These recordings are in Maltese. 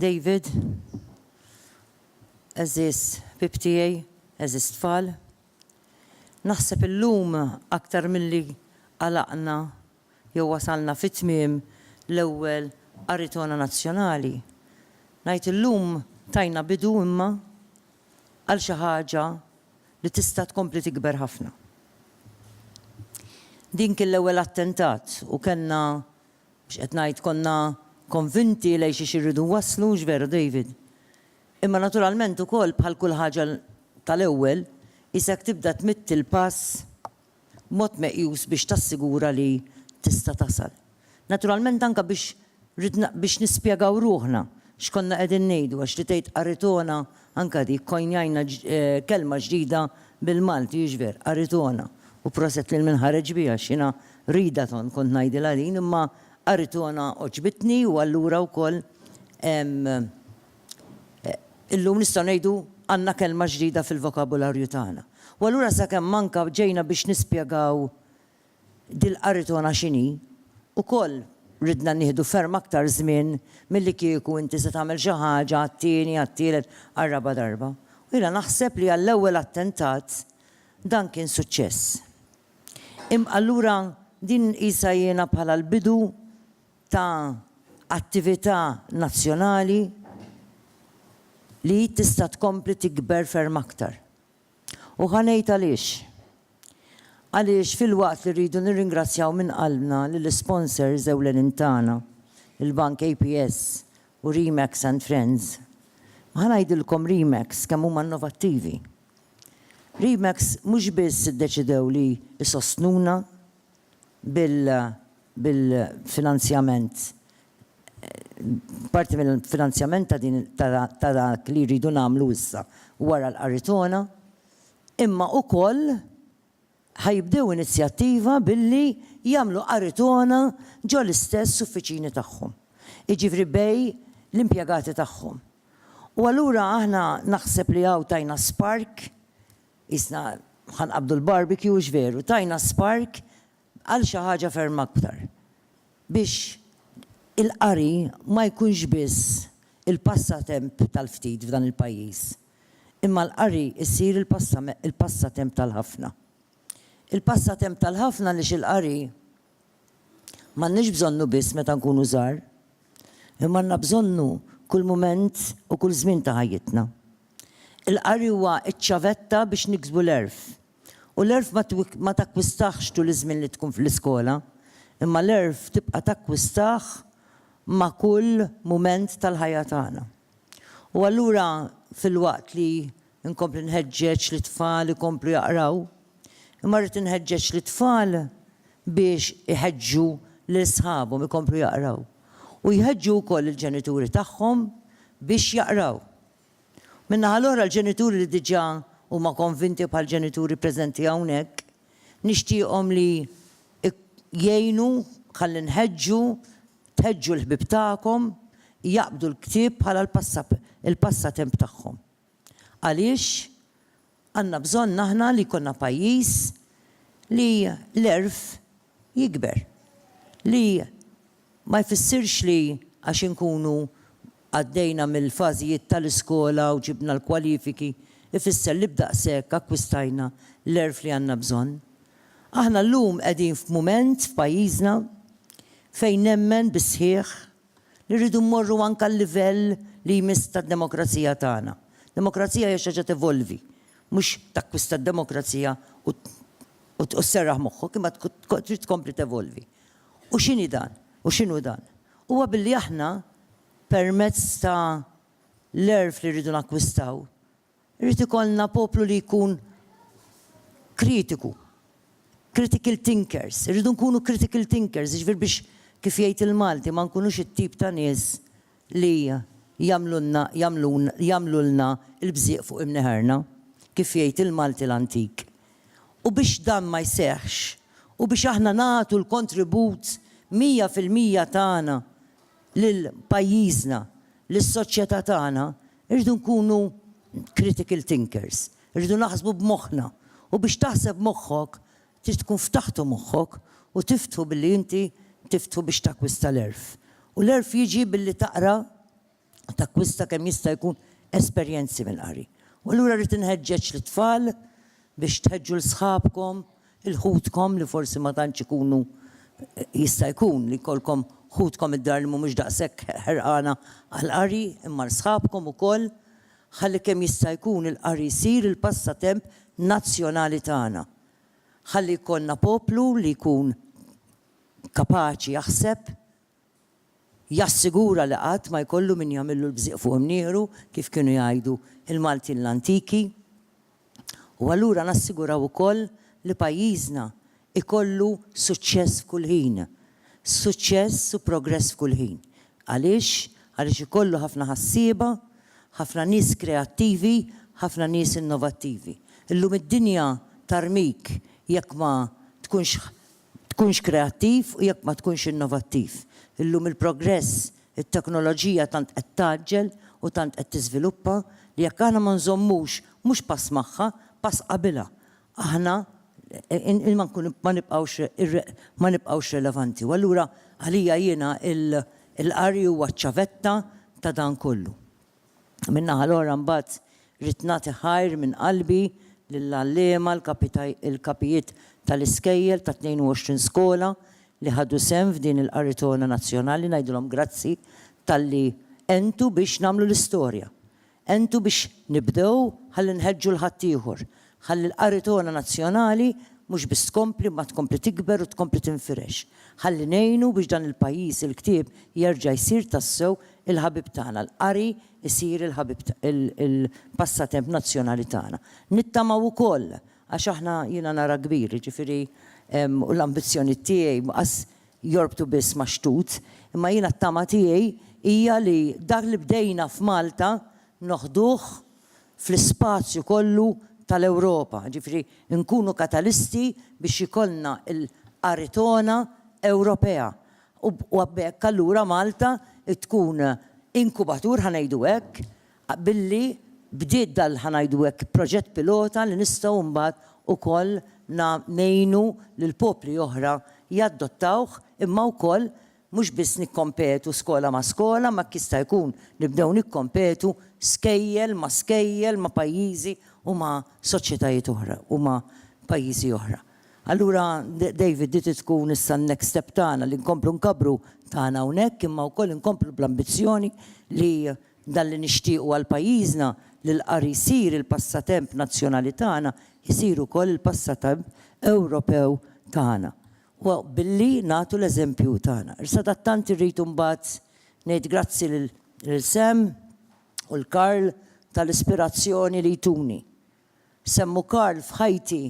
David, eżis bib tiegħi, eżis tfal, naħseb illum aktar milli għalaqna jew wasalna fi tmiem l-ewwel qari togħna nazzjonali. Ngħid illum tajna bidu imma għal xi ħaġa li tista' tkompli tikber ħafna. Din kien l-ewwel attentat u kellna, x'qed ngħid, konna konvinti lejn xiex irridu nwasslu, hux veru David? Imma naturalment ukoll bħal kull ħaġa tal-ewwel, qisek tibda tmidd il-pass b'mod meqjus biex tassigura li tista' tasal. Naturalment anke biex ridna biex nispjegaw ruħna x'konna qegħdin ngħidu għax li tgħid qaritona anke dik kkoinjajna kelma ġdida bil-Malti hiex vera, qaritona, u proset lil min ħareġ biha għax jiena readathon kont ngħidilha din imma qaritona għoġbitni u allura wkoll hemm Illum nistgħu ngħidu għandna kelma ġdida fil-vokabularju tagħna. U allura sakemm anka ġejna biex nispjegaw dil-qaritona x'inhi, ukoll ridna nieħdu ferm aktar żmien milli kieku inti se tagħmel xi ħaġa għat-tieni, għat-tielet, għar-raba' darba. U jiena naħseb li għall-ewwel attentat dan kien suċċess. Imma allura din nqisha jiena bħala l-bidu ta' attività nazzjonali li hi tista' tkompli tikber ferm aktar. U ħa ngħid għaliex. Għaliex filwaqt li rridu nirringrazzjaw minn qalbna lill-isponsors ewlenin tagħna, il-Bank APS u Remax and Friends, ma ħa ngħidilkom Remax kemm huma innovattivi. Remax mhux biss iddeċidew li jsostnuna, bil-finanzjament, parti mill-finanzjament ta' din ta' dak li rridu nagħmlu issa wara l-Qaritona, imma ukoll ħa jibdew inizjattiva billi jagħmlu Qaritona ġo l-istess uffiċini tagħhom, jiġifieri bejn l-impjegati tagħhom. U allura aħna naħseb li hawn tajna spark Qisna ħa nqabbdu l-barbecue hux veru, tajna spark għal xi ħaġa ferm aktar. Biex il-qari ma jkunx biss il-passatemp tal-ftit f'dan il-pajjiż, imma l-qari jsir il-passatemp tal-ħafna. Il-passatemp tal-ħafna għaliex il-qari M'għandniex bżonnu biss meta nkunu żgħar, imma għandna bżonnu kull mument u kull żmien ta' ħajjitna. Il-qari huwa ċ-ċavetta biex niksbu l-għerf. U l-għerf ma takkwistaħx tul iż-żmien li tkun fl-iskola, imma l-għerf tibqa' takkwistah ma' kull mument tal-ħajja tagħna. U allura filwaqt li nkompli nħeġġeġ lit-tfal ikomplu jaqraw, imma rrid inħeġġeġ lit-tfal biex iħeġġu lil sħabhom ikomplu jaqraw. U jħeġġu wkoll il-ġenituri tagħhom biex jaqraw. Min-naħa l-oħra l-ġenituri li diġà huma konvinti bħall-ġenituri preżenti hawnhekk, nixtieqhom li jgħinu ħalli nħeġġu Tħeġġu l-ħbieb tagħkom jaqbdu l-ktieb bħala l-passatemp tagħhom. Għaliex għandna bżonn aħna li jkollna pajjiż li l-għerf jikber, li ma jfissirx li għax inkunu Għaddejna mill-fażijiet tal-iskola u ġibna l-kwalifiki ifisser li b'daqshekk akkwistajna l-għerf li għandna bżonn. Aħna llum qegħdin f'mument f'pajjiżna fejn nemmen bis-sħiħ li rridu mmorru anke għal-livell li jmiss tad-demokrazija tagħna. Demokrazija hija xi ħaġa tevolvi, mhux takkwista d-demokrazija u sserraħ moħħok, imma trid tkompli tevolvi. U x'inhi dan? U x'inhu dan? Huwa billi aħna, permezz ta' l-għerf li rridu nakkwistaw, irid ikollna poplu li jkun kritiku, critical thinkers, irridu nkunu critical thinkers, jiġifieri biex, kif jgħid il-Malti, ma nkunux it-tip ta' nies li jagħmlulna, jagħmlun, jagħmlulna l-bżieq fuq imneħerna, kif jgħid il-Malti l-antik, u biex dan ma jseħħx u biex aħna nagħtu l-kontribut mija fil-mija tagħna lil pajjiżna, lis-soċjetà tagħna, irridu nkunu critical thinkers, irridu naħsbu b'moħħna u biex taħseb moħħok trid tkun ftaħtu moħħok u tiftħu billi inti tiftħu biex takkwista l-għerf u l-għerf jiġi billi taqra takkwista kemm jista' jkun esperjenzi mill-qari. U allura rrid inħeġġeġ lit-tfal biex tħeġġu 'l sħabkom, 'il ħutkom li forsi ma tantx ikunu jista' jkun li jkollkom ħutkom id-dar li mhumiex daqshekk ħerqana għall-qari, imma 'l sħabkom ukoll, ħalli kemm jista' jkun il-qari jsir il-passatemp nazzjonali tagħna. Ħalli jkollna poplu li jkun kapaċi jaħseb jassigura li qatt ma jkollu min jagħmillu l-bżieq fuq imnieħru, kif kienu jgħidu l-Maltin l-antiki, u allura nassiguraw ukoll li pajjiżna jkollu suċċess f'kull ħin, suċċess u progress f'kull ħin. Għaliex? Għaliex ikollu ħafna ħassieba, ħafna nies kreattivi, ħafna nies innovattivi. Illum id-dinja tarmik jekk ma tkunx tkunx kreattiv u jekk ma tkunx innovattiv. Illum il-progress, it-teknoloġija tant qed tgħaġġel u tant qed tiżviluppa li jekk aħna ma nżommux mhux pass magħha, pass qabilha, aħna ma nibqgħux ma nibqgħux relevanti. U allura għalija jiena l-qari huwa ċ-ċavetta ta' dan kollu. Min-naħa l-oħra mbagħad ridt nagħti ħajr minn qalbi lill-għalliema, il-kapijiet tal-iskejjel tat-22 skola li ħadu sehem f'din il-qaritona nazzjonali, ngħidilhom grazzi talli għentu biex nagħmlu l-istorja. Għentu biex nibdew ħalli nħeġġu 'l ħaddieħor Ħalli l-qari togħna nazzjonali mhux biss tkompli imma tkompli tikber u tkompli tinfirex. Ħalli ngħinu biex dan il-pajjiż il-ktieb jerġa' jsir tassew il-ħabib tagħna, l-qari jsir il-ħabib il-passatemp nazzjonali tagħna. Nittamaw ukoll, għax aħna jiena nara kbir, jiġifieri u l-ambizzjonijiet tiegħi mhux jorbtu biss max-xtut, imma jiena t-tama tiegħi hija li dak li bdejna f'Malta noħduh, fl-ispazju kollu tal-Ewropa, jiġifieri nkunu katalisti biex ikollna l-Aritona Ewropea u b'hekk allura Malta tkun inkubatur, ħa ngħidu hekk, billi bdiet dal-, ħa ngħidu hekk, proġett pilota li nistgħu mbagħad ukoll ngħinu lill-popli oħra jaddottawh imma wkoll Mhux biss nikkompetu skola ma' skola imma jekk jista' jkun nibdew nikkompetu skejjel ma' skejjel ma' pajjiżi u ma' soċjetajiet oħra u ma' pajjiżi oħra. Allura David di trid tkun issa n-next step tagħna li nkomplu nkabbru tagħna hawnhekk imma wkoll inkomplu bl-ambizzjoni li dan li nixtiequ għal pajjiżna li l-qari jsir il-passatemp nazzjonali tagħna jsir ukoll il-passatemp Ewropew tagħna. Huwa billi nagħtu l-eżempju tagħna. Sadattant irrid imbagħad ngħid grazzi lil Sam u l-Karl tal-ispirazzjoni li jtuni. Sam u Karl f'ħajti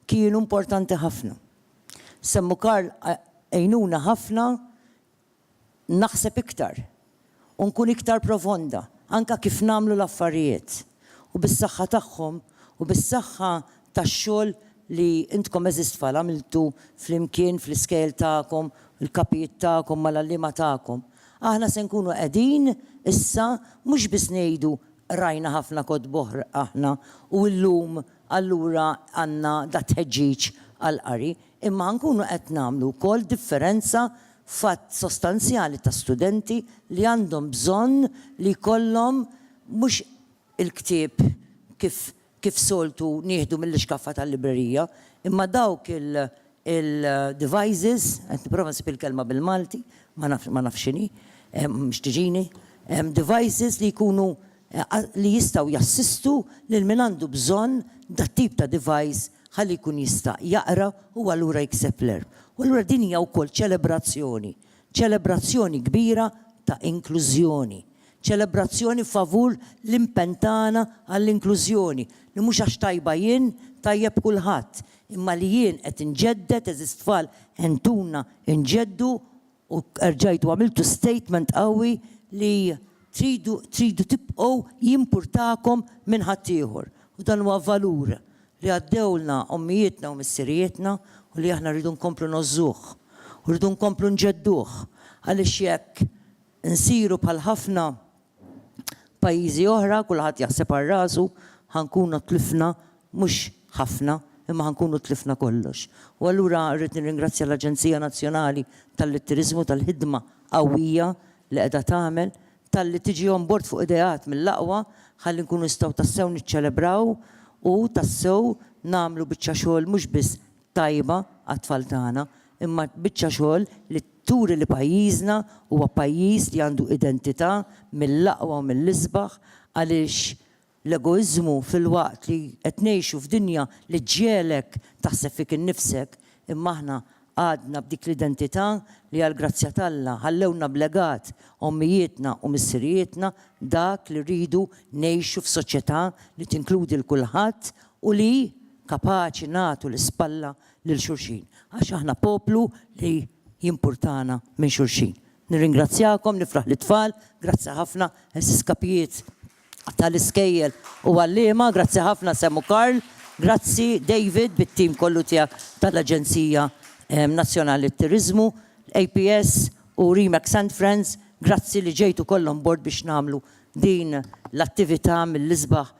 kienu importanti ħafna. Sam u Karl għinuna ħafna naħseb iktar u nkun iktar profonda anke kif nagħmlu l-affarijiet u bis-saħħa tagħhom u bis-saħħa tax-xogħol li intkom għeżież tfal għamiltu flimkien fl-iskejjel tagħkom, il-kapijiet tagħkom mal-għalliema tagħkom. Aħna se nkunu qegħdin issa mhux biss ngħidu qrajna ħafna kotb oħra aħna u llum allura għandna dat-tħeġġiġ għall-qari, imma nkunu qed nagħmlu wkoll differenza f'għadd sostanzjali ta' studenti li għandhom bżonn li jkollhom mhux il-ktieb kif kif soltu nieħdu mill-ixkaffa tal-librerija, imma dawk il il devices, qed nipprova nsib il-kelma bil-Malti, ma naf ma naf x'inhi, mhux tiġini, devices li jkunu li jistgħu jassistu lil min għandu bżonn dat-tip ta' device ħalli jkun jista' jaqra u allura jikseb l-għerf. U allura din hija wkoll ċelebrazzjoni, ċelebrazzjoni kbira ta' inklużjoni, ċelebrazzjoni favur l-impenn tagħna għall-inklużjoni, li mhux għax tajba jien tajjeb kulħadd, imma li jien qed inġedded, għeżież tfal, entuna nġeddu U rġajtu għamiltu statement qawwi li tridu tridu tibqgħu jimpurtakom minn ħaddieħor. U dan huwa valur li għaddewlna ommijietna u missirijietna u li aħna rridu nkomplu ngħożżuh u rridu nkomplu nġedduh għaliex jekk insiru bħal ħafna pajjiżi oħra kulħadd jaħseb għal rasu, ħa nkunu tlifna mhux ħafna imma ħa nkunu tlifna kollox. U allura rrid nirringrazzja l-Aġenzija Nazzjonali talli t-Turiżmu tal-ħidma qawwija li qiegħda tagħmel, talli tiġi on bord fuq ideat mill-aqwa ħalli nkunu nistgħu tassew niċċelebraw u tassew nagħmlu biċċa xogħol mhux biss tajba għat-tfal tagħna, imma biċċa xogħol li turi li pajjiżna huwa pajjiż li għandu identità mill-aqwa u mill-isbaħ għaliex l-egoiżmu filwaqt li qed ngħixu f'dinja li ġġegħlek taħseb fik innifsek imma aħna għadna b'dik l-identità li għall-grazzja t'Alla ħallewlna b'legat ommijietna u missirijietna dak li rridu ngħixu f'soċjetà li tinkludi 'l kulħadd u li kapaċi nagħtu l-ispalla lil xulxin għax aħna poplu li jimpurtana minn xulxin. Nirringrazzjakom, nifraħ lit-tfal, grazzi ħafna għeżież kapijiet tal-iskejjel u għalliema, grazzi ħafna Sam u Karl, grazzi David bit-tim kollu tiegħek tal-Aġenzija Nazzjonali t-Turiżmu, l-APS u Remax and Friends, grazzi li ġejtu kollha on board biex nagħmlu din l-attività mill-isbaħ